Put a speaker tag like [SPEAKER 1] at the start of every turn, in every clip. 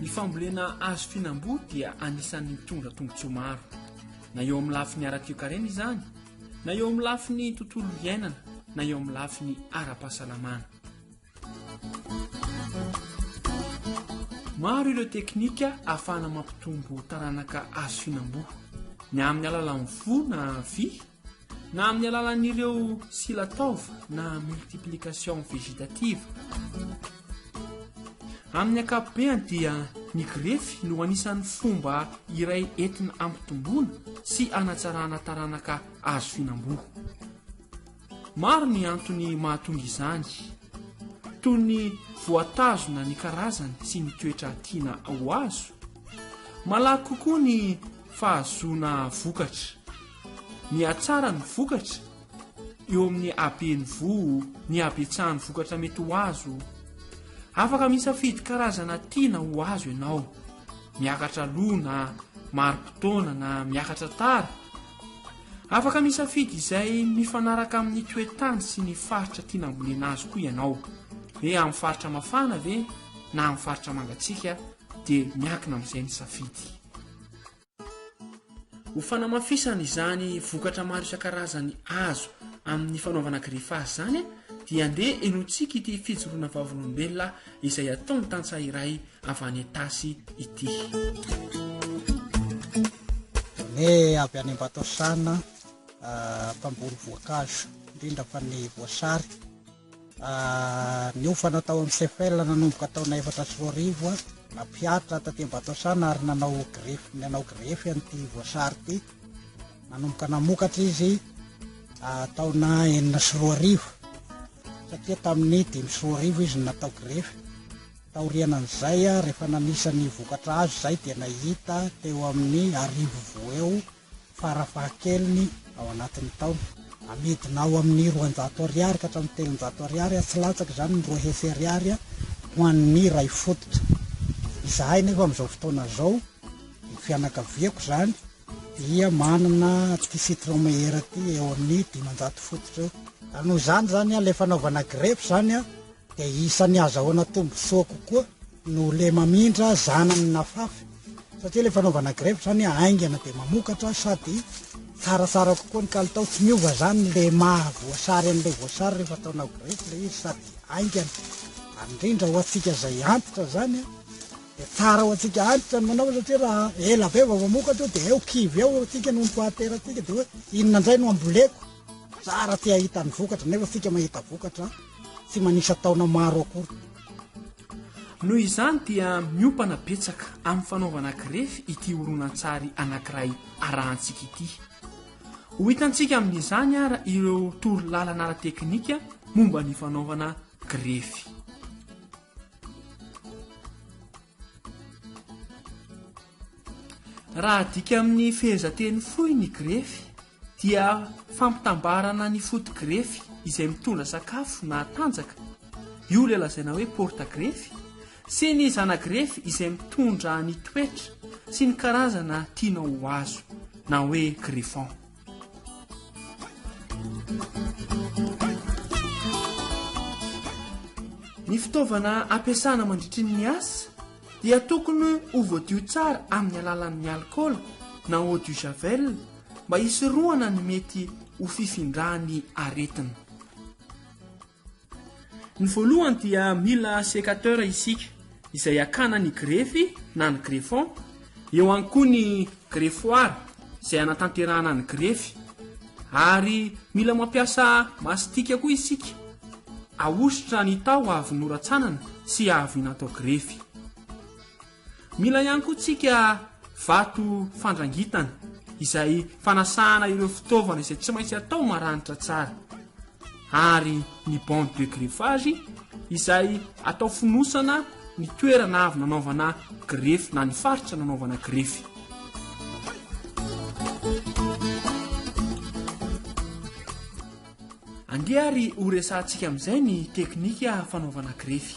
[SPEAKER 1] Ny fambolena hazo fihinam-boa dia anisan'ny mitondra tombontsoa maro, na eo amin'ny lafiny ara-toekarena izany, na eo amin'ny lafiny tontolo iainana, na eo amin'ny lafiny ara-pahasalamana. Maro ireo teknika ahafahana mampitombo taranaka hazo fihinam-boa, na amin'ny alalan'ny voa na vy, na amin'ny alalan'ireo sila taova na multiplication vegetative. Amin'ny ankapobeny dia ny grefy no anisan'ny fomba iray entina ampitomboana sy anatsarana taranaka azo fihinam-boa. Maro ny antony mahatonga izany, toy ny voatazona ny karazany sy ny toetra tiana ho azo, malaky kokoa ny fahazoana vokatra Mihatsara ny vokatra eo amin'ny haben'ny voa, ny habetsahan'ny vokatra mety ho azo. Afaka misafidy karazana tiana ho azo ianao, miakatra aloha na marim-potoana na miakatra tara. Afaka misafidy izay mifanaraka amin'ny toe-tany sy ny faritra tiana hambolena azy koa ianao, hoe amin'ny faritra mafana ve na amin'ny faritra mangatsiaka dia miankina amin'izay ny safidy. Ho fanamafisana izany vokatra maro isan-karazany azo amin'ny fanaovana greffage izany dia andeha henointsika ity fijoroana vavolombelona izay ataon'ny tantsaha iray avy any Itasy ity.
[SPEAKER 2] Ny avy any Ambatosana mpamboly voankazo indrindra fa ny voasary. Niofana tao amin'ny CFL nanomboka taona efatra sy roa arivo, nampiharitra taty Ambatosana ary nanao grefy nanao grefy an'ity Voasary ity. Nanomboka namokatra izy taona enina sy roa arivo satria tamin'ny dimy sy roa arivo izy no natao grefy. Taoriana an'izay rehefa nanisa ny vokatra azo izay dia nahita teo amin'ny arivo vo eo farafahakeliny ao anatin'ny taona. Amidina ao amin'ny roanjato ariary ka hatramin'ny telonjato ariary, tsy latsaka izany ny roa hetsy ariary ho an'ny iray fototra. Izahay nefa amin'izao fotoana izao, ny fianakaviako izany, dia manana ity citron meilleur ity eo amin'ny dimanjato fototra eo. Ary noho izany izany ilay fanaovana grefy izany dia isan'ny azahoana tombontsoa kokoa no le mamindra zanany nafafy satria le fanaovana grefy zany haingana dia mamokatra sady tsaratsara kokoa ny kalitao tsy miova zany le maha voasary an'ilay voasary rehefa ataonao grefy le izy sady haingana indrindra ho antsika zay antitra zany a dia tsara ho antsika antitra ny manao satria raha ela be vao mamokatra io dia eo kivy eo antsika no mpahateratsika dia hoe inona indray no amboleko tsara te hahita ny vokatra nefa antsika mahita vokatra tsy manisa taona maro akory.
[SPEAKER 1] Noho izany dia miompana betsaka amin'ny fanaovana grefy ity horonantsary anankiray arahantsika ity. Ho hitantsika amin'izany ara ireo torolalana ara-teknika momba ny fanaovana grefy. Raha adika amin'ny fehezanteny fohy ny grefy dia fampitambarana ny foto-grefy izay mitondra sakafo na tanjaka, io ilay lazaina hoe porta-grefy, sy ny zana-grefy izay mitondra ny toetra sy ny karazana tianao ho azo, na hoe greffon. Ny fitaovana ampiasana mandritrin' ny asa dia tokony ho voadio tsara amin' ny alalan' ny alikaola na eau du javel mba hisorohana ny mety ho fifindran' ny aretina. Ny voalohany dia mila sécateur isika izay hakana ny grefy na ny greffon, eo ihany koa ny greffoir izay hanatanterahana ny grefy ary mila mampiasa mastika koa isika ahosotra ny taho avy noratsanana sy avy natao grefy. Mila ihany koa tsika vato fandrangitana izay fanasana ireo fitaovana izay tsy maintsy atao maranitra tsara ary ny bande de greffage izay atao fonosana ny toerana avy nanaovana grefy na ny faritra nanaovana grefy. Andeha ary ho resahantsika amin'izay ny teknika fanaovana grefy.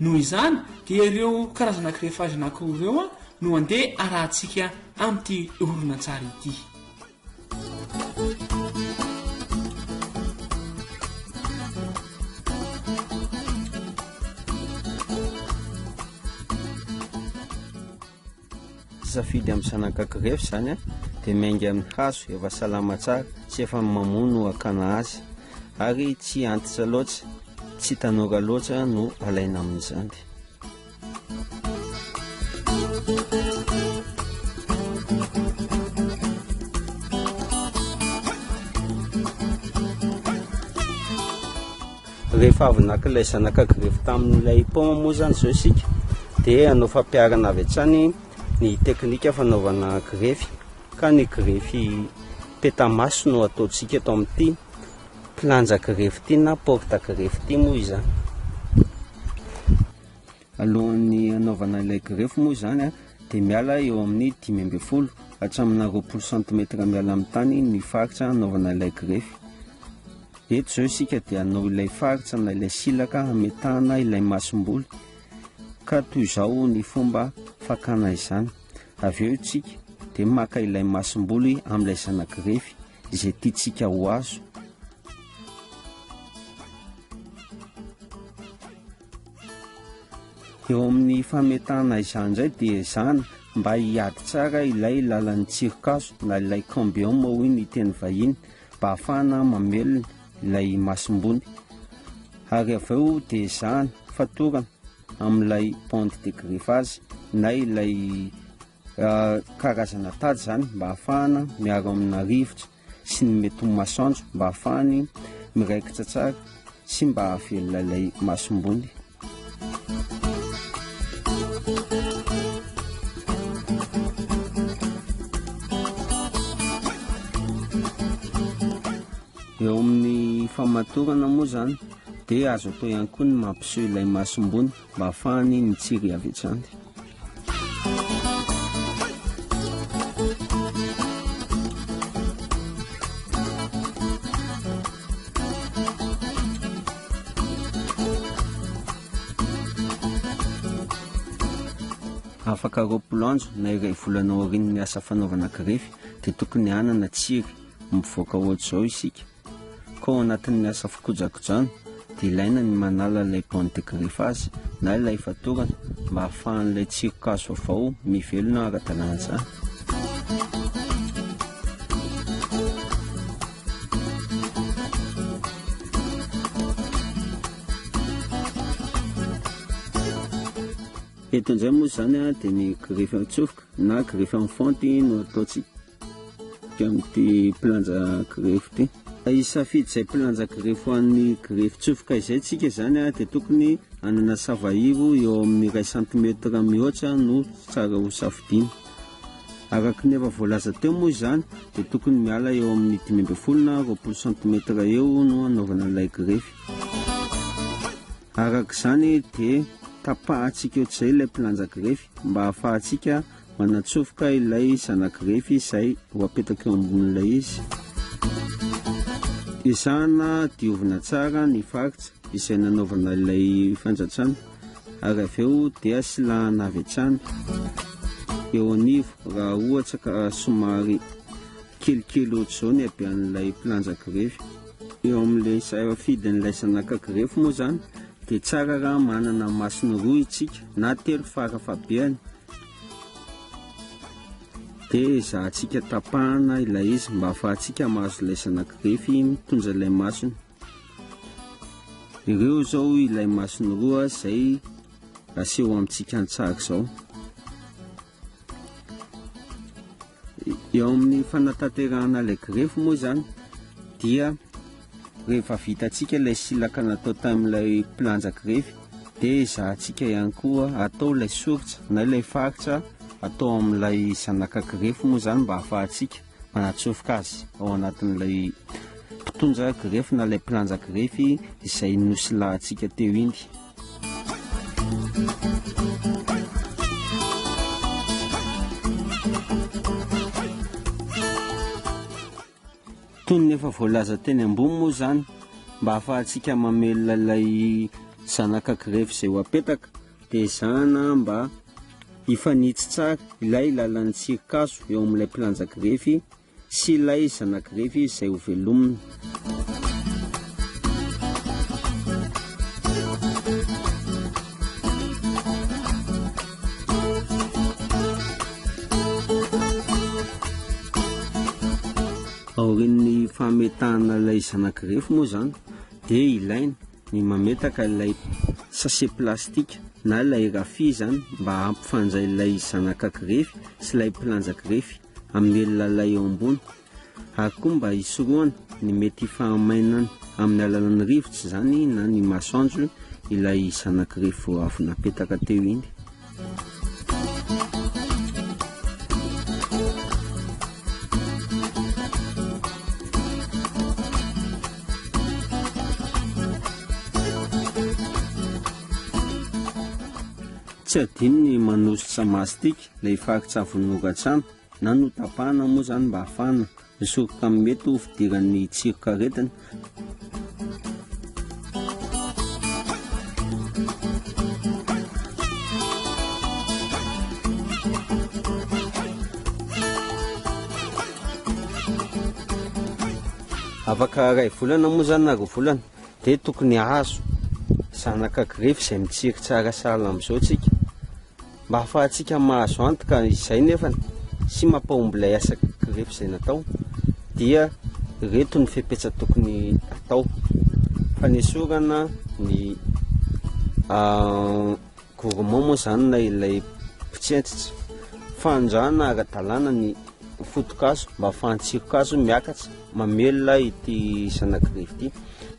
[SPEAKER 1] Noho izany dia ireo karazana greffage anankiroa ireo no handeha arahantsika amin'ity horonantsary ity.
[SPEAKER 3] Safidy amin'ny zanak'aky refy zany a, dia miainga amin'ny hazo efa salama tsara sy efa mamoa no hakana azy, ary tsy antitra loatra, tsy tanora loatra no alaina amin'izany. Rehefa avy naka ilay zanaka grevy tamin'ilay paoma moa izany izao isika dia hanao fampiharana avy hatrany ny teknika fanaovana grevy ka ny grevy peta-maso no ataontsika eto amin'ity planja grevy ity na porta grevy ity moa izany. Alohan'ny hanaovana ilay grefy moa izany dia miala eo amin'ny dimy ambin'ny folo hatraminà roapolo santimetatra miala amin'ny tany ny faritra hanaovana ilay grefy. Eto izao isika dia hanao ilay faritra na ilay silaka hametahana ilay masomboly ka toy izao ny fomba fakana izany. Avy eo isika dia maka ilay masomboly amin'ilay zana-grefy izay tiantsika ho azo. Eo amin'ny fametahana izany indray dia izany mba hiady tsara ilay lalan'ny tsirikazo na ilay cambium hoy ny teny vahiny mba hahafahana mamelona ilay masombony. Ary avy eo dia izany fatorana amin'ilay bande de greffage na ilay ah, karazana tady izany mba hahafahana miaro amina rivotra. sy ny mety ho masoandro mba hahafahany miraikitra tsara sy mba hahavelona ilay masombony. Eo amin'ny famatorana moa izany dia azo atao ihany koa ny mampiseho ilay masombony. Mba afahany mitsiry avy hatrany. afaka roapolo andro na iray volana aorian'ny asa fanaovana grefy dia tokony hanana tsiry mivoaka ohatr'izao isika Koa ao anatin'ny asa fikojakojana dia ilaina ny manala ilay bande de griffage na ilay fatorana mba hahafahan'ilay tsiron-kazo vaovao mivelona ara-dalàna. Eto indray moa izany dia ny greffe an-tsofoka na greffe en fonte no ataontsika. Amin'ity mpilanja grefy ity. Hisafidy izay mpilanja grefy ho an'ny grefy tsofoka izay tsika izany dia tokony hanana savairo eo amin'ny iray santimetatra mihoatra no tsara ho safidiana. Araka ny efa voalaza teo moa izany dia tokony miala eo amin'ny dimy ambin'ny folo na roapolo santimetatra eo no hanaovana ilay grefy. Araka izany dia tapahantsika eo izay ilay mpilanja grefy mba hahafahantsika Manatsofoka ilay zanak'i Refy izay ho apetaka eo ambonin'ilay izy. Ezahana diovina tsara ny faritra izay nanaovana ilay fanjatsana ary avy eo dia silahana avy hatrany eo anivo raha ohatra ka somary kelikely ohatr'izao ny habean'ilay mpilanja grefy. Eo amin'ilay safidin'ilay zanaka grefy moa izany dia tsara raha manana masony roa isika na telo fara fahabeany. Dia ezahantsika tapahana ilay izy mba hahafahantsika mahazo ilay zanak'irefy mitondra ilay masony. Ireo izao ilay masony roa izay aseho amintsika an-tsary izao. Eo amin'ny fanatanterahana ilay grefy moa izany dia rehefa vitantsika ilay silaka natao tamin'ilay mpilanja grefy dia ezahantsika ihany koa atao ilay soritra na ilay faritra atao amin'ilay zanaka grefy moa izany mba hahafahantsika manatsofoka azy ao anatin'ilay mpitondra grefy na ilay mpilanja grefy izay nosilahintsika teo iny. Toy ny efa voalaza teny ambony moa izany, mba hahafahantsika mamelona ilay zanaka grefy izay ho apetaka, dia ezahana mba hifanitsy tsara ilay lalan'ny tsirikazo eo amin'ilay mpilanja grefy Tsy ilay zanak'i Refy izy izay hovelomina. Aorian'ny fametahana ilay zanak'i Refy moa izany dia ilaina ny mametaka ilay sachet plastika na ilay rafia izany mba hampifanjay ilay zanakak'i Refy sy ilay mpilanjak'i Refy. Hamelona lay eo ambony, ary koa mba hisorohana ny mety hifahamainana amin'ny alalan'ny rivotra izany na ny masoandro ilay zanak'irefy vao avy napetaka teo iny. Tsy adino ny manositra mastic Ilay faritsavin'ny loran-tsambo na notapahana moa izany mba hahafahana misoroka amin'ny mety ho fidiran'ny tsiron-karetina. Afaka iray volana moa izany na roa volana dia tokony hahazo zanaka grefy izay mitsiry tsara sahala amin'izao isika. Mba hahafahantsika mahazo antoka izay nefa sy mampahomby ilay asa grefy izay natao dia ireto ny fepetra tokony atao fanesorana ny ah, gourmand moa izany na ilay mpitsentsitra fanondrana ara-dalàna ny fotokazo mba fahantsirokazo miakatra mamelona ity zanagrefy ity